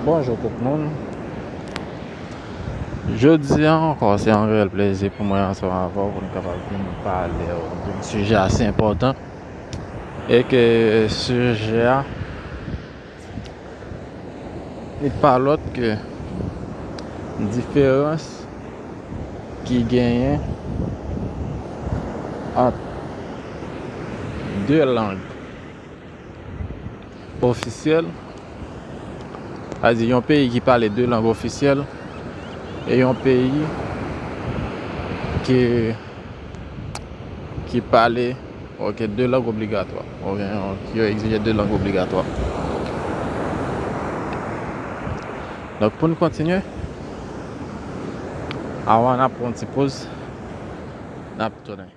Bonjou tout moun Jodi an ankò se yon reyèl plezi pou mwen ansanm avè w pou n kapab vin pale w yon sijè ase enpòtan e ke sijè a li pa lòt ke diferans ki genyen ant de lang ofisyèl, sa di yon peyi ki pale 2 lang ofisyèl e yon peyi ki ki pale ok 2 lang obligatwa oubyen yo egzije 2 lang obligatwa. Donk pou n kontinye, avan n ap pran yon ti poz, n ap tounen.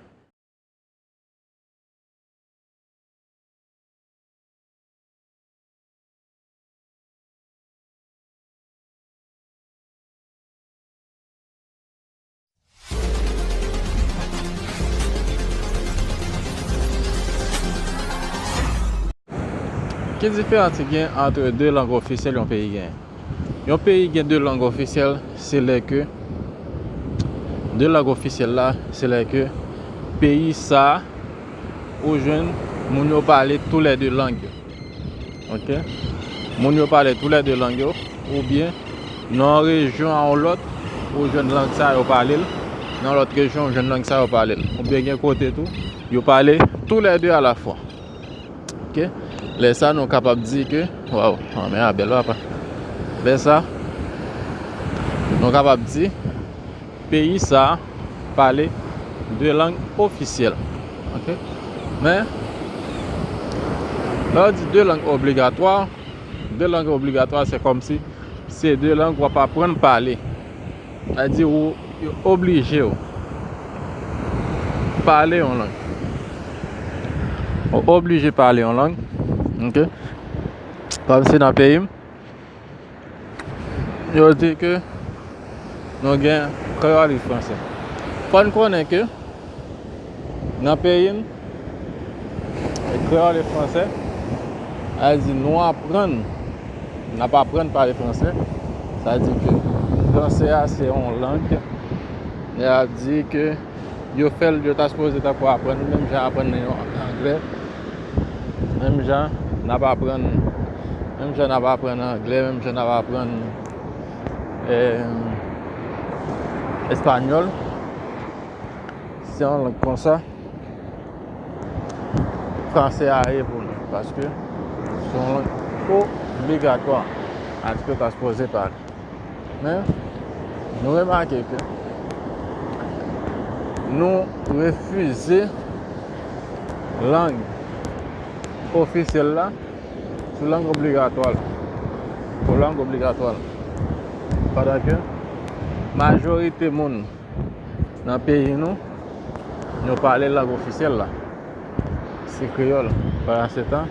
Ki diferans ki gen antre 2 lang ofisyèl yon peyi genyen? Yon peyi gen 2 lang ofisyèl se lè ke 2 lang ofisyèl la se lè ke peyi sa ou jwenn moun yo pale tou lè 2 lang yo. Ok? Moun yo pale tou lè 2 lang yo ou byen nan yon rejyon a yon lòt ou jwenn lang sa yo pale l, nan lòt rejyon ou jwenn lang sa yo pale l. Ou byen gen kote tou yo pale tou lè 2 a la fwa. Ok lè sa nou kapab di ke waw anmè a bèl papa lè sa nou kapab di peyi sa pale de lang ofisyèl ok men lè yo di de lang obligatwa de lang obligatwa se kòmsi se de lang wap aprann pale Sa vle di ou yo oblije w pale yon lang. Ou oblije pale yon lang. Ok. Kòm si nan peyi m, yo di ke nou gen kreyòl e franse. Fò n konnen ke. Nan peyi m, e kreyòl e fransè, sa vle di nou aprann, n ap aprann pale fransè. Sa vle di ke fransè a se yon lang, y a di ke yo fè l, yo ta sipoze ta ko aprann l menm jan y aprann l yon anglè, menm jan n ap aprann, menm jan n ap aprann anglè, menm jan n ap aprann espanyòl. Se yon lang konsa, franse a ye pou nou, paske se yon lang obligatwa, atik yo ta sipoze pale. Men, nou remake ke nou refize lang ofisyèl la sou lang obligatwa la, pou lang obligatwa la, padan ke majorite moun. Nan peyi nou, nou pale lang ofisyèl la, se kreyòl. Pandansetan,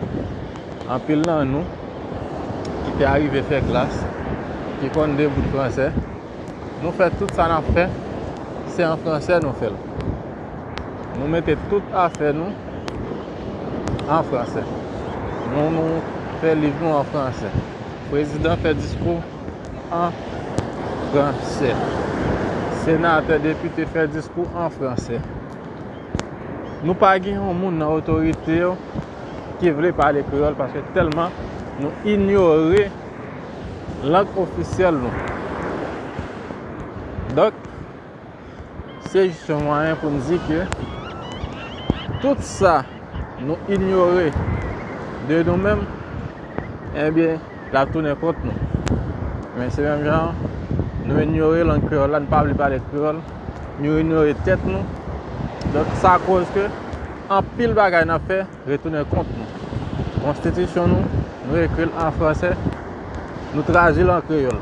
anpil nan nou ki te arive fè klas, ki konn de bout franse, nou fè tout sa n ap fè, se an franse nou fè l. Nou mete tout afè nou an franse. Nou fè liv nou an franse. Prezidan fè diskou. an fransè. Senatè, depite fè diskou an fransè. Nou pa gen yon moun nan otorite yo ki vle pale kreyòl paske tèlman nou inyore lang ofisyèl nou. Donk, se jis yon mwayen pou n di ke tout sa nou inyore de nou menm, enbyen, l ap tounen kont nou. Men se menm jan nou inyore lang kreyòl la, nou pa vle pale kreyòl, nou inyore tèt nou, donk sa koz ke anpil bagay n ap fè. Retounen kont nou. Konstitisyon nou, nou ekri l an franse, nou tradi l an kreyòl.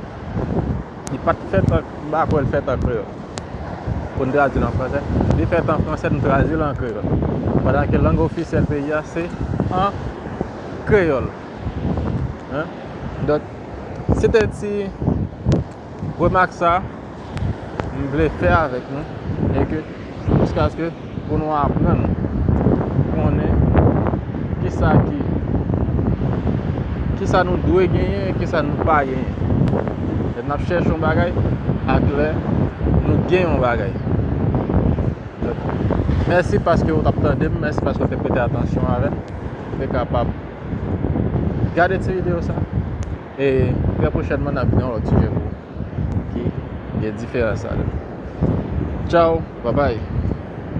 Li pa t fèt an, m pa kwè l fèt an kreyòl pou n tradi l an franse. Li fèt an franse, nou tradi l an kreyòl. Pandan ke lang ofisyèl peyi a se an kreyòl. Donk, se te ti. Remak sa, m vle fè avèk nou, e ke, jiskaske pou nou aprann konnen ki sa ki, ki sa nou dwe genyen, e ki sa nou pa genyen. Lè n ap chèche yon bagay, ak lè nou gen yon bagay. Donk, mèsi paske ou t ap tande m, mèsi paske ou te prete atansyon avè m. Ou te kapab gade ti videyo sa. E trè pwochènman nap gen yon lòt sijè pou ou ki gen diferans avèl. Tchao, babay.